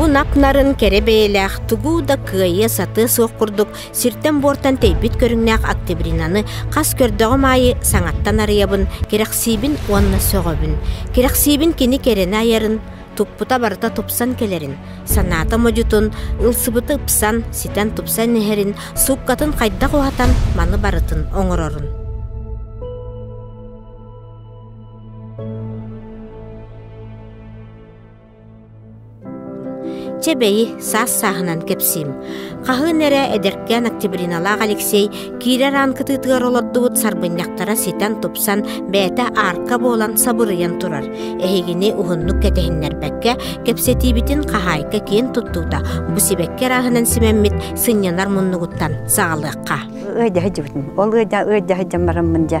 Бу нак-нарын кэрэ бэйэлээх тугу да кыайыа сатыа суох курдук сиртэн-буортан тэйбит көрүҥнээх октябринаны хас көрдөҕүм аайы саҥаттан арыйабын, кэрэхсиибин уонна сөҕөбүн. Кэрэхсиибин кини кэрэнэ айарын, туппута барыта тупсан кэлэрин, санаата модьутун, ылсыбыты ыпсан, ситэн тупсан иһэрин, сууккатын хайдах уһатан маны барытын оҥорорун. Чэ бэйи, саас-сааһынан кэпсиим. Хаһыын эрэ эдэркээн Октябриналаах Алексей киирэр аан кытыытыгар олордубут сарбынньахтара ситэн-тупсан, бэйэтэ аарка буолан сабырыйан турар. Эһигини уһуннук кэтэһиннэрбэккэ, кэпсэтиибитин хаһаайка киэн туттуута бу сибэкки арааһынан симэммит сынньанар муннугуттан саҕалыахха. Ыайдаһы дьыбытын. Ол ыайда ыайдаһы дьаммараммын дьа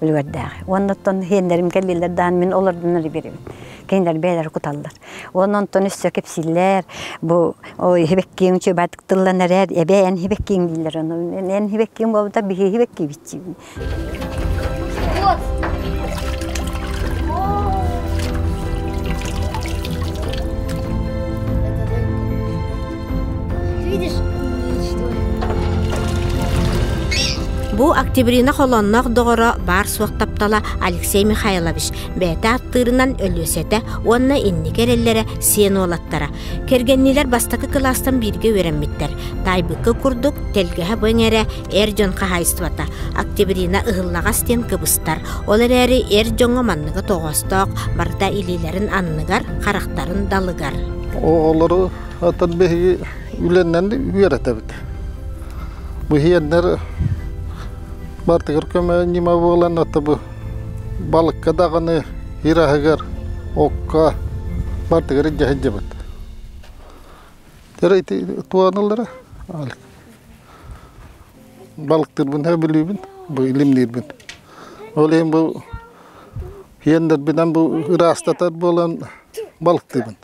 үлүгэрдээҕи. Уонна оттон сиэннэрим кэллилэр даан мин олордон эрэ биэрэбин. Кинилэр бэйэлэрэ куталлар. Уонна онтон өссө кэпсииллэр, бу иһибэккиэҥ үчүгэйдик тыллан эрээр, эбээ эн иһибэккиэҥ дииллэр. Эн иһибэккиэҥ буолбута биһи иһибэккиибитчиин. Бу Октябрина холонноох доҕоро баар-суох таптала Алексей Михайлович бэйэтэ аттыырынан Өлүөсэтэ уонна инники эрэллэрэ сиэн уолаттара. Кэргэннилэр бастакы кылаастан бииргэ үөрэммиттэр. Таайбыкка курдук, тэлгэһэ бу эҥэрэ эр дьон хаһаайыстыбата Октябрина ыһыллаҕас диэн кыбыстар. Ол эрээри эр дьоҥҥо манныгы тоҕоостоох, барыта илиилэрин анныгар, харахтарын далыгар. Оҕолору Оттон биһиги үлэннэн үөрэтэбит. Быһиэннэр бартыгар көмө ньыма буолан, отто бу балыкка даҕаны ир аһыгар, окко бартыгар дьаһайдыбыт. Тера ити туаналара балыктырбын өбүлүүбүн, бу илимниирбин. Ол иһин бу иэннэрбинэн бу ыраастатар буолан балыктыыбын.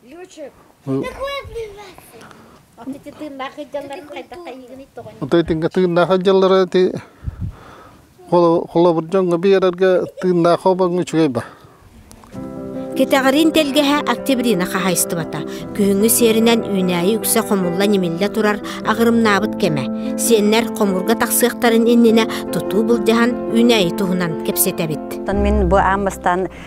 Отой тыынга тыыннаах дьаллара ти холобур дьоҥҥо биэрэргэ тыыннаах обоҥҥа үчүгэй ба. Кэтэҕэрин тэлгэһэ октябрина хаһайыстыбата. Күһүҥҥү сиэринэн үүнээйи үксэ хомулла нимиллэ турар агырымнаабыт кэмэ. Сиэннэр хомурга тахсыахтарын иннинэ тутуу былдьаһан үүнээйи туһунан кэпсэтэбит. Тан мин бу аан бастан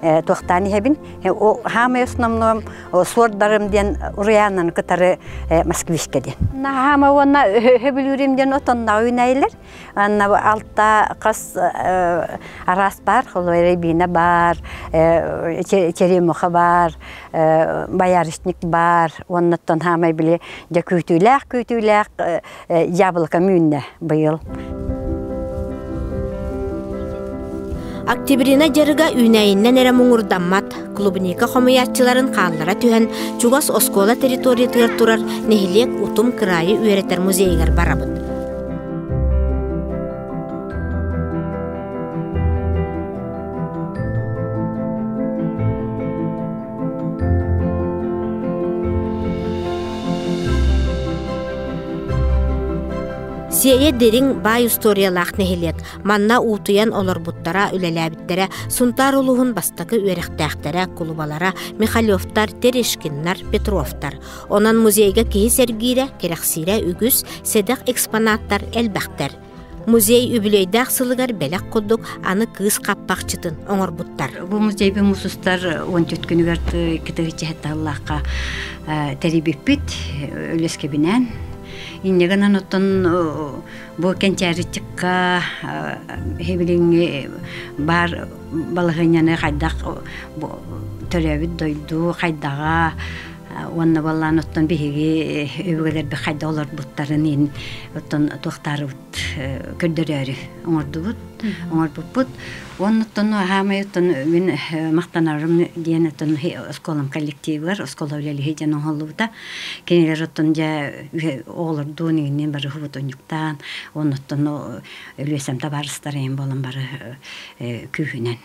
туохтаан иһэбин хаамай основном суордарым диэн уруйааннан кытары москвичка диэн наһаама уонна хөбүлүүрүм диэн отоннаҕа үүнэйилэр анна алта хас араас баар рябина бар черемуха бар боярышник бар уоннаттан хаамай били дьэ күүтүүлээх күүтүүлээх Яблоко мүүннэ быйыл. Октябрина дьарыга үүнэйиннэн эрэ муҥурдаммат. Клубника хомуйааччыларын хааллара түһэн, чугас оскуола территориятыгар турар нэһилиэк утум кыраайы үөрэтэр музейыгар барабыт. Сиэйэ дириҥ баай устуоруйалаах нэһилиэк манна уутуйан олорбуттара, үлэлээбиттэрэ Сунтаар улууһун бастакы үөрэхтээхтэрэ, кулубалара Михалевтар, Терешкиннар, Петровтар. Онон музейга киһи сэргиирэ, кэрэхсиирэ үгүс, сэдэх экспонаттар элбэхтэр. Музей үбүлүөйдээх сылыгар бэлэх курдук аны кыыс хаппахчытын оҥорбуттар. Бу музейбит мусустар он төрт күнүгэр кытыгыччэһэтталлаахха тэрийбиппит үлэскэбинэн иннегынан оттон бу кэнчээриччикка хибилиҥҥи баар балаһыанньаны хайдах төрөөбүт дойду хайдаҕа уонна баллаан оттон биһиги өбүгэлэрбит хайда олорбуттарын иһин оттон туохтаарыбыт көрдөрөөрү оҥордубут оҥорбуппут уонна оттон хаамай оттон мин махтанарым диэн оттон оскуолам коллективыгар оскуола үлэлиһи диэн оҥоһуллубута кинилэр оттон дьэ оҕолордуун иҥиннин бары уһубутунньуктаан уонна оттон өлүөсэм табаарыстар эйин буолан бары күүһүнэн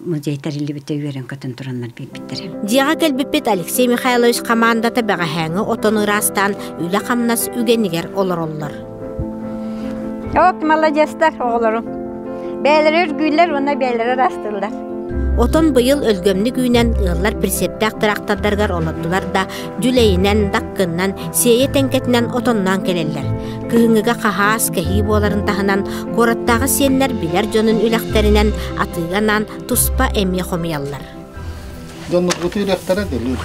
музей тэриллибитэ үөрэн көтөн тураннар биэрбиттэрэ. Дьиэҕэ кэлбиппит Алексей Михайлович хамаандата бэҕэһээҥҥи отону ыраастаан үлэ-хамнас үгэнигэр олороллор. От молодецтар оҕолорум. Бээлэрэ үргүүллэр уонна бээлэрэ ыраастыыллар. Отон быйыл өлгөмнүк үүнэн ыаллар прицептээх трактордарыгар олордулар да Дьүлэйинэн, даккыннан, сиэйэ тэҥкэтинэн отонноон кэлэллэр. Кыһыҥҥыга хаһаас кэһии буоларын таһынан, куораттааҕы сиэннэр билэр дьонун үлэхтэринэн атыы анаан туспа эмиэ хомуйаллар. Дьонноргутун үлэхтэрэ делүүр.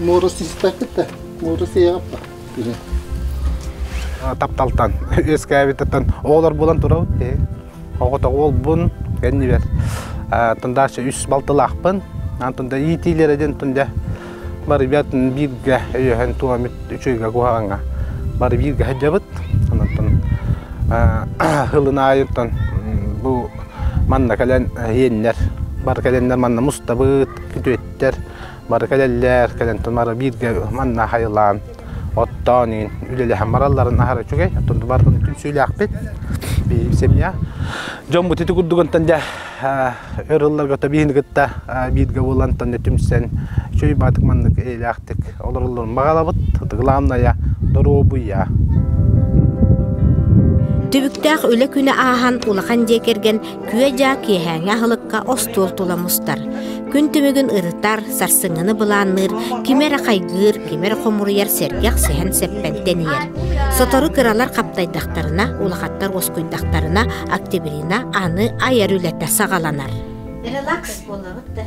Муору систэккитэ, муору сиэҕаппа. Тапталтан, үөскээбиттэн оҕолор булан турабыт. Оҕото уолбун кэннибэр тындаарча үс балтылаахпын. Аны тында иитиилэрэ дин тында бары бер бииргэ өйөһөн туамит үчүгө куһаҕаҥа бары бииргэ сылдьабыт. Онтон хылын аайыттан бу манна кэлэн иэннэр бары кэлэннэр манна мустабыт, күтүөттэр бары кэлэллэр кэлэн тунара бииргэ манна хайылаан оттоон иин үлэлэһэн баралларын аһара үчүгэй оттон барбын түнсүүлээхпит биһиги семья дьоммут ити курдугантан дьэ өр ылларга биһини кытта бииргэ булантан түмсэн чөй баатык маннык эйлээхтик олороллорун баҕалабыт ытыгылаамная доруобуйа Түбүктээх үлэ күнэ ааһан улахан дьиэ кэргэн Күө-дьаа киэһээҥи аһылыкка остуол тула мустар. Күн түмүгүн ырытар, сарсыҥҥыны былаанныыр, кими эрэ хайгыыр, кими эрэ хомуруйар сэргэх сэһэн сэппэн тэнийэр. Сотору кыралар хаптайдахтарына, улахаттар уоскуйдахтарына, октябрина аны айар үлэтэ саҕаланар. Релакс буолабыт да.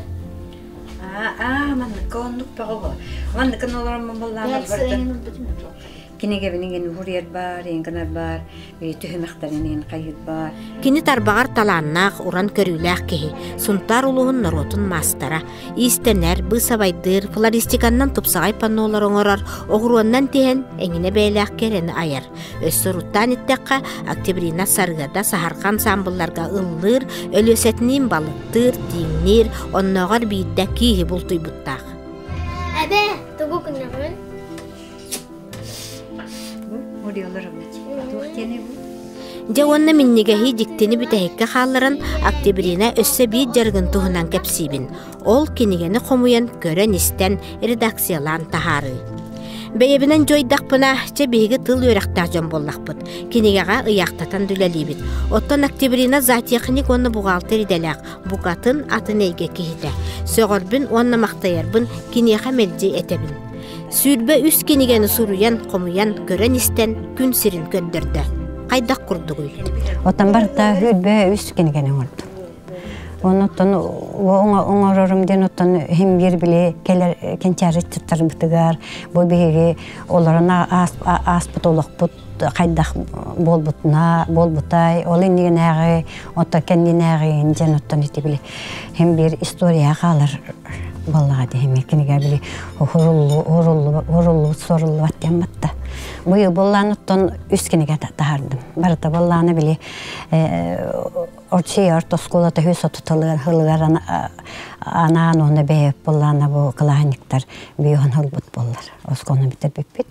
Аа, манныка оннук бөҕө. Манныка олорон баллаабар бардым. Кинигэбинин ген уһуриер бар, ингенер бар, түһүмэхтэрин ин хайыт бар. Кини тарбаҕар талааннаах, уран көрүүлээх киһи, Сунтаар улууһун норуотун маастара, иистэнэр, быысабайдыыр, флористиканнан тупсаҕай паннолар оҥорор, оҕуруоннан тиһэн эҥинэ бэйэлээх кэрэни айар. Өссө уруттаан itтэххэ, Октябрина Сарыгада саһарҕа ансаамбылларга ыллыыр, өлүөсэтиниин балыттыыр, тииҥниир, оннооҕор биирдэ кииһи бултуйбуттаах. Эбэ, тугу күннэҕин? Дьэ уонна минньигэһи дьиктини бүтэһиккэ хаалларан Октябрина өссө биир дьарыгын туһунан кэпсиибин. Ол кинигэни хомуйан, көрөн-истэн, редакциялаан таһаарыы. Бэйэбинэн дьойдахпына, чэ биһиги тыл үөрэхтээх дьон буоллахпыт. Кинигэҕэ ыйаахтатан үлэлиибит. Оттон Октябрина зоотехник уонна бухгалтер идэлээх, букатын атын эйгэ киһитэ. Сөҕөрбүн уонна махтайарбын киниэхэ мэлдьи этэбин. Сүүрбэ үс кинигэни суруйан, хомуйан, көрөн-истэн күн сирин көрдөрдө. Хайдах курдугуй? Оттон барыта үрбө үс кинигэни оҥордум. Онуттан оҥорорум диэн оттон химбир били келер кенчарыччыттарбытыгар бу биһиги олорон ааспыт олохпут хайдах буолбутуна буолбутай ол иннигинээҕи оттон кэннинээҕи дьэн оттон ити били хим биир история хаалар боллаҕа дии кинигэ били уруллубут суруллубат диэн батта быйыл боллаан оттон үс кинигэ таһардым барыта боллаана били очиер тоскула төһү сотуталыар анаан уона бэйэ боллаана бу кылааһынньыктар бииһон ылбыт боллар оскону бүтэрбиппит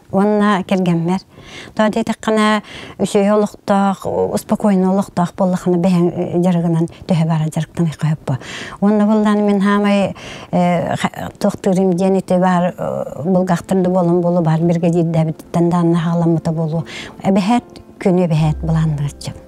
уонна кэргэммэр тоҕо диэтэххинэ үсүөйэ олохтоох успокойнай олохтоох буоллаххына бэйэҥ дьарыгынан төһө баара дьарыктаныахха сөпкө уонна буоллаан мин саамай туохтуурум диэн ити баар булгахтар да буолан буолуо баар биргэдиирдээбиттэн дааннаһаҕаламмыта буолуо эбэһээт күнү эбэһээт былааннааччым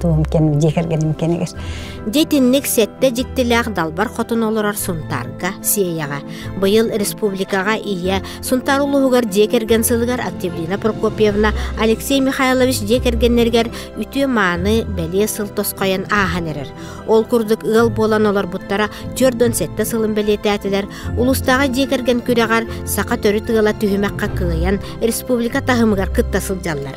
туом кэм дьиэ кэргэним кэмигэр Дитинник сэттэ дьиктилээх далбар хотон олорор Сунтаарга Сиэйэҕэ. Быйыл республикаҕа ийэ Сунтаар улууһугар дьиэ кэргэн сылыгар Активлина Прокопьевна Алексей Михайлович дьиэ кэргэннэригэр үтүө-мааны бэлиэ сыл тосхойон ааһан эрэр. Ол курдук ыал буолан олорбуттара түөрдөн сэттэ сылын бэлиэтээтилэр. Улуустааҕы дьиэ кэргэн күрэҕэр саха төрүт ыала түһүмэххэ кыайан республика таһымыгар кытта сылдьаллар.